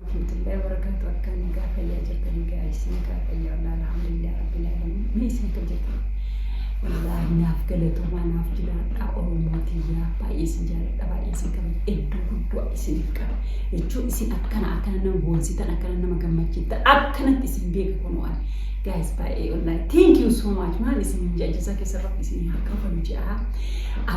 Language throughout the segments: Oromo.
Warahmatullahi wabarakatuh akkam nagaa fayyaa jirtan nagaa isin nagaa fayyaa walaa alhamdulillah rabbil alamin ni isin hojjeta wallaahi naaf galatoomaa naaf jiraadhaa oromoo tiyyaa baay'ee isin jaaladha baay'ee isin qaba iddoo guddaa isiniif qaba jechuun isin akkana akkana nama boonsitan akkana nama gammachiiftan akkanatti isin beeka kunoo ani guys baay'ee wallaahi thank you so much maal isin hin jajjisa keessa rabbi isin haa qabalu ja'a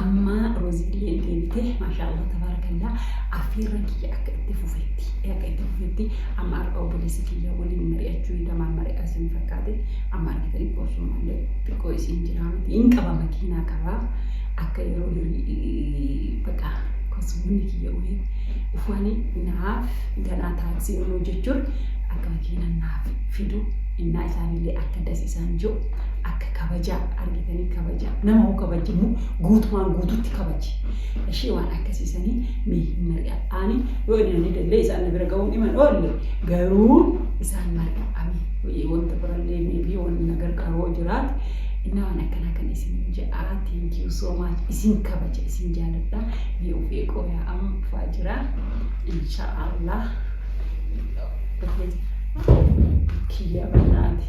amma roozillee deebitee maashaallah tabaarakallaa afiirra kiyya akka itti fufetti erga itti fufetti amma har'a obboleessa kiyya waliin mari'achuu hidha maal mari'aa isin fakkaate amma argitanii qoosuu malee xiqqoo isin jiraa miti hin qaba makiinaa qaba akka yeroo hirii baqa kosumni kiyya wayii ufani naaf ganaa taaksii ol hojjechuun akka makiina naaf fidu innaa isaanillee akka das isaan jiru akka kabajaa argitanii kabajaa nama hoo kabajamu guutumaan guututti kabaji Ishee waan akkasii sanii mee hin mari'adhaani yoo inni namni illee isaan na bira ga'uun dhima hin oolle garuu isaan mari'adhaani wayii wanta birallee meebii wanni na gargaaru yoo jiraate innaa waan akkanaa kan isin jedhaa thank you so much isin kabaja isin jaaladha mee of eegoo yaa amma dhufaa jira insha allah kiyya banaati.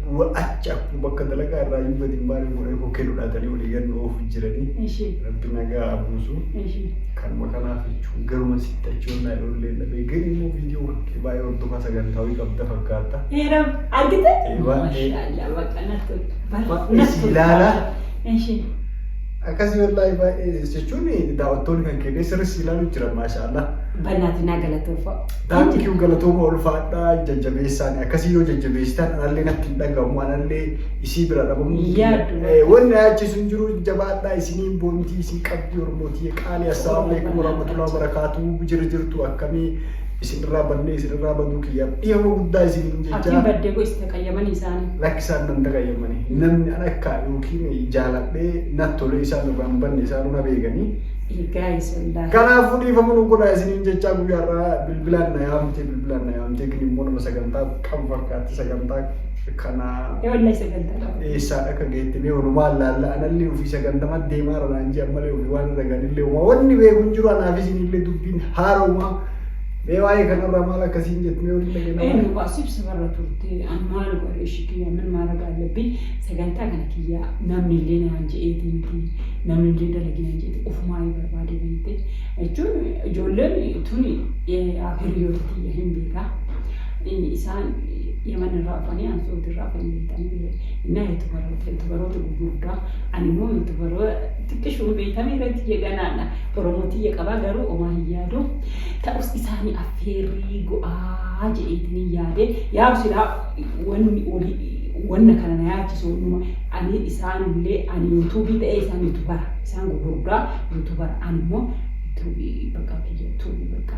Achi akkuma bakka dalagaa irraa iyyuu gadi hin baane goree koo kennu dhaatanii walii gad nu oofu jiranii. Eshi. Rabbi nagaa abuusu. Eshi. Kanuma kanaaf jechuun garuma sitti achi onnaa ijoolleen dhabee gari immoo viidiyoo kan kee baay'ee hordofaa sagantaawii qabda fakkaatta. Eera argite? Waan ta'eef. Mashallah bakka natti Baay'ee si ilaala. Eshi. Akkasii wallaahi baay'ee jechuun daawwattoonni kan kennee sirri si ilaalu jira maashaallah. Bannaati naa galatoofa. Thank you galatooma ulfaadhaa jajjabeessaan akkasii yoo jajjabeessitan anallee natti hin dhagahamu anallee isii bira dhabamu. Yaaddu. Eh, Wanni na yaachisu hin jiru jabaadhaa isinii boontii isin qabdi ormootii qaalii assalaamu alaikum warahmatullahi wabarakaatuu jira jirtu akkamii isin irraa bannee isin irraa baduu kiyyaaf dhiifama guddaa isiniin Abdiin jechaa baddee koo isin qayyamanii isaanii. lakki isaan nan dagayyamani namni an akka yookiin jaaladhee nat tolee isaan irraa hin banne isaanuu na beekanii Egaa isa wallaahi. Kanaafuu dhiifama nu godhaa isiniin jechaa guyyaarraa bilbilaan na yaamte bilbilaan na yaamte gini immoo nama sagantaa qabu fakkaatti sagantaa Kanaa Ee wallahi sagantaa qaba. eessaadha akka geette mee walumaa laalla anallee ofii sagantama deemaa irra naan ji'a malee ofii waan irra ganillee uma wanni beeku hin jiru anaaf isinillee dubbiin haaroma mee waa'ee kanarraa maal akkasiin jettu mee waliin dhageenna Ee maal? nuqaa sibsa barra turte an maal godhe ishi kiyya min maara gaallabbi sagantaa kana kiyya namni illee naan je'eeti miti namni illee dalagee naan je'eeti ofumaa yoo barbaade beekte jechuun ijoolleen tuni hiriyoota tiyya hin beekaa. Inni isaan Yaman irraa dhufanii an Saudi irraa dhufanii beektanii bira innaa yuutubaroota yuutubaroota gurguddaa ani immoo yuutubaroo xiqqishuun beektanii irratti jeganaadha Oromoo tiyya qabaa garuu omaa hin yaadu ta'us isaanii affeerrii go'aa je'eetiniin yaade yaa silaa wanni olii wanna kana na yaachisu wannuma ani isaan illee ani yuutuubii ta'ee isaan yuutubara isaan gurguddaa yuutubara ani immoo yuutuubii bakka kiyya tuubii bakka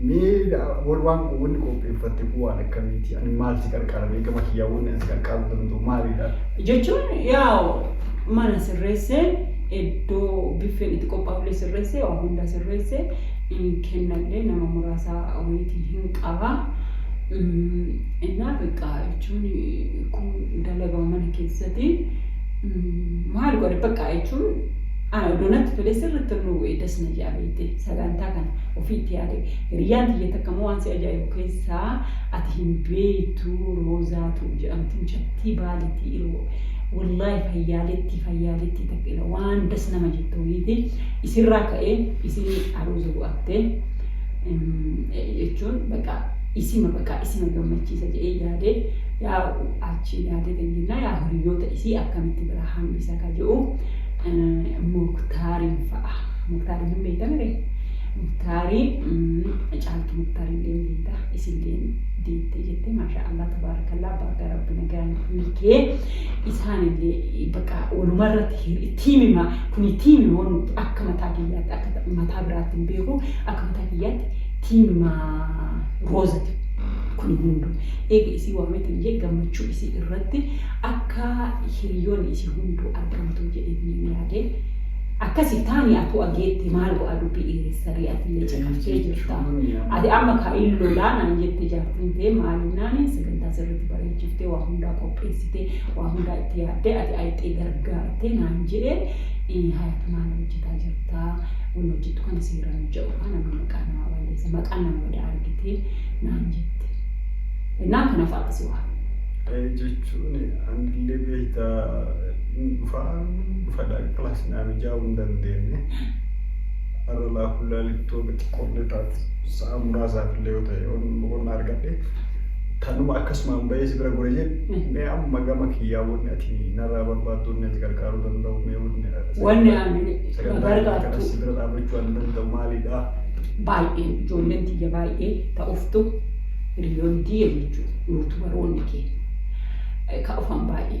Mee wani waan wani qopheeffatte kun waan akkamiiti? Ani maal si qarqaara mee gama kiyyaa wanni ani si qarqaaruu danda'u maalidha? Jechuun yaa mana sirreessee iddoo biffeen itti qophaa'ullee sirreessee waa hunda sirreessee in kennallee nama muraasa wayitii hin qaba. Mm, Innaa beekaa jechuun kun dalagama mana keessatti mm, maal godhe beekaa jechuun ana odoo natti tolee sirriitti nu eedas na jaabeete sagantaa kana. ofiitti yaade. Hiriyyaan tiyya takka immoo waan si ajaa'ibu keessaa ati hin beeytu Roozaatu jedhamti mucattii Baaleetii iroo wallaahi fayyaaleettii fayyaaleettii takka ila waan das nama jettu wayiiti isirraa ka'ee isin aruuza bu'attee jechuun baqa isima baqa isima gammachiisa jedhee yaade yaa achiin yaadee kan jennaa yaa hiriyoota isii akkamitti biraa hambisa ka jedhu muktaariin fa'a. Muktaariin hin beekta mire. Muktaariin caaltu muktaariin deemu beekta. Isin deemu deemte jettee maashaa Allah tabaarakallaa baga rabbi nagaan hiikee isaan illee bakka waluma irratti tiimima kuni tiimima waan nuti akka mataa kiyyaatti akka mataa biraatti hin beeku akka mataa kiyyaatti tiimima roozati kuni hundu eega isii waameetiin jee gammachuu isii irratti akka hiriyoonni isii hunduu argamtu jedhee yaadee Akkasi taani atuu ageetti maal go'a dubbii dheeressaree atillee caqaftee jirta. Ati amma ka in lolaa naan jette jaartiin ta'e maaliin naani sagantaa sirriitti bareechiftee waa hundaa qopheessitee waa hundaa itti yaaddee ati ayixee gargaartee naan jedhe hayatu maal hojjetaa jirta wal hojjettu kana seeraan hojjedhu kaa namni maqaa namaa balleessa maqaan nama badaa argitee naan jette. Innaa kana fa'aati si waan. jechuun anillee beektaa hin dhufaa dhufadha class naa mijaa'uu hin dandeenye har'a laafullaa liktoota xiqqoollee taatu sa'a muraasaaf illee yoo ta'e yoon boqonnaa argadhe tanuma akkasumaan bahee si bira gure jedhe mee amma gama kiyyaa wanni ati narraa barbaaddu wanni ati gargaaruu danda'u mee wanni Wanni ani sagantaa kana gargaartu si bira dhaabachuu waan danda'u maalidha? baay'ee ijoolleen tiyya baay'ee ta'uftu hiriyoonni tiyya jechuudha nuutu baroonni kee ka dhufan baay'ee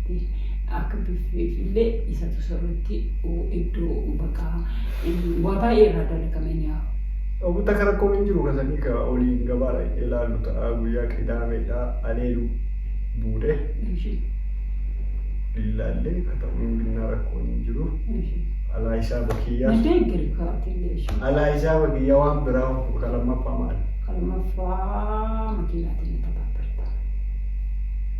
Akka biffeefillee isatu sirriitti iddoo bakka waa baay'ee irraa dalagame ni haa. Obbo Takka rakkoon hin jiru kasanii ka oliin gabaa dhaqnee ilaallu ta'a guyyaa qidaameedha aleelu buude lillaallee ka ta'u hin binnaa rakkoon hin jiru alaa hisaaba kiyyaa Nadee giri kaartillee ishee. alaa hisaaba kiyyaa waan biraa ka lammaffaa maali? Kalmaffaa makiinaatiin ni taphaatarta.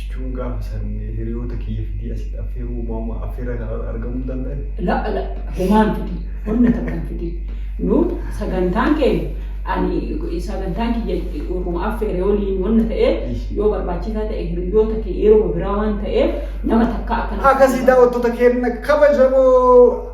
jechuun gaafa san hiriyoota kiyya fidii asitti affeeruu maama affeerraa kana argamuu danda'e. La'a la'a homaan fidi wanna takkan fidi nu sagantaan keenya ani sagantaan kiyya urruma affeere waliin wanna ta'eef yoo barbaachisaa ta'e hiriyoota kee yeroo biraa waan ta'eef nama takka akkana. Akkasii daawwattoota keenya kabajamoo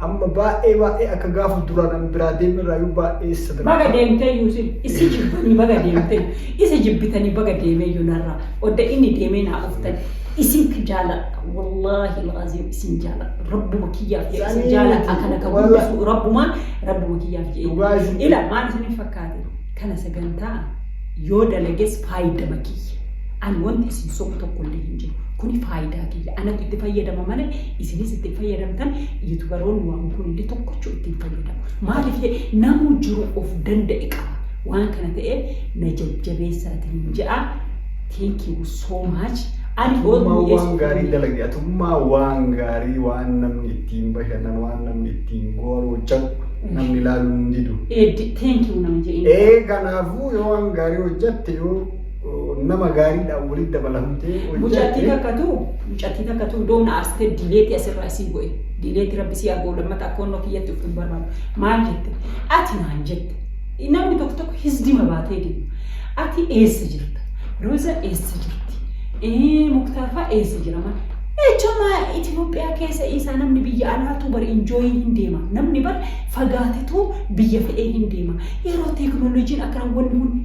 Amma baay'ee baay'ee akka gaafa duraan an biraa deemerraayyuu baay'ee isa Baga darba. deemtee Yuusin issi jibbanii baga deemtee isa jibbitanii baga deemee yunarraa odda inni deemee naa dhuftan isin ki jaaladha wallaahi laaziim isin jaaladha rabbuma kiyyaaf jedhe isin Sanii jaaladha miti, kana ka walla- guddisu rabbumaa rabbuma kiyyaaf jedhe Dhugaa isin- ila maal isin fakkaate kana sagantaa yoo dalages faayidama kiyya ani wanti isin sobu tokko illee hin jiru kuni faayidaa kiyya anatti itti fayyadama malee Isinis itti hin fayyadamtan yutubaroonni waan hundi tokkochuu itti hin fayyadamu. Maaliif ta'e namuu jiru of danda'e qaba. Waan kana ta'eef na jajjabeessaatiin jedha. Thank you so much. Ani yoo Atummaa waan dhiyeessu gaarii hin dalage atummaa waan gaarii waan namni ittiin bashannan waan namni ittiin gooroo jadhu namni ilaaluu hin didu. Eeddi thank you nama jedheen. Ee kanaafuu yoo waan gaarii hojjatte yoo nama gaariidhaan walitti dabalamtee Mucattii hojjette. takkatu mucattii takkatu iddoo na aarstee dileetii asirraa isii godhe dileetii rabbi si argoo lammata akka onnoo kiyyatti of hin barbaadu maal jette ati maal jette namni tokko tokko hisdima baatee deemu ati eessa jirta rooza eessa jirti ee muktaafaa eessa jira maal jechuun Itoophiyaa keessa isaa namni biyya alaatu bar injooyii hin deema namni bar fagaatetu biyya fedhee hin deema yeroo teeknooloojiin akkana wanni hundi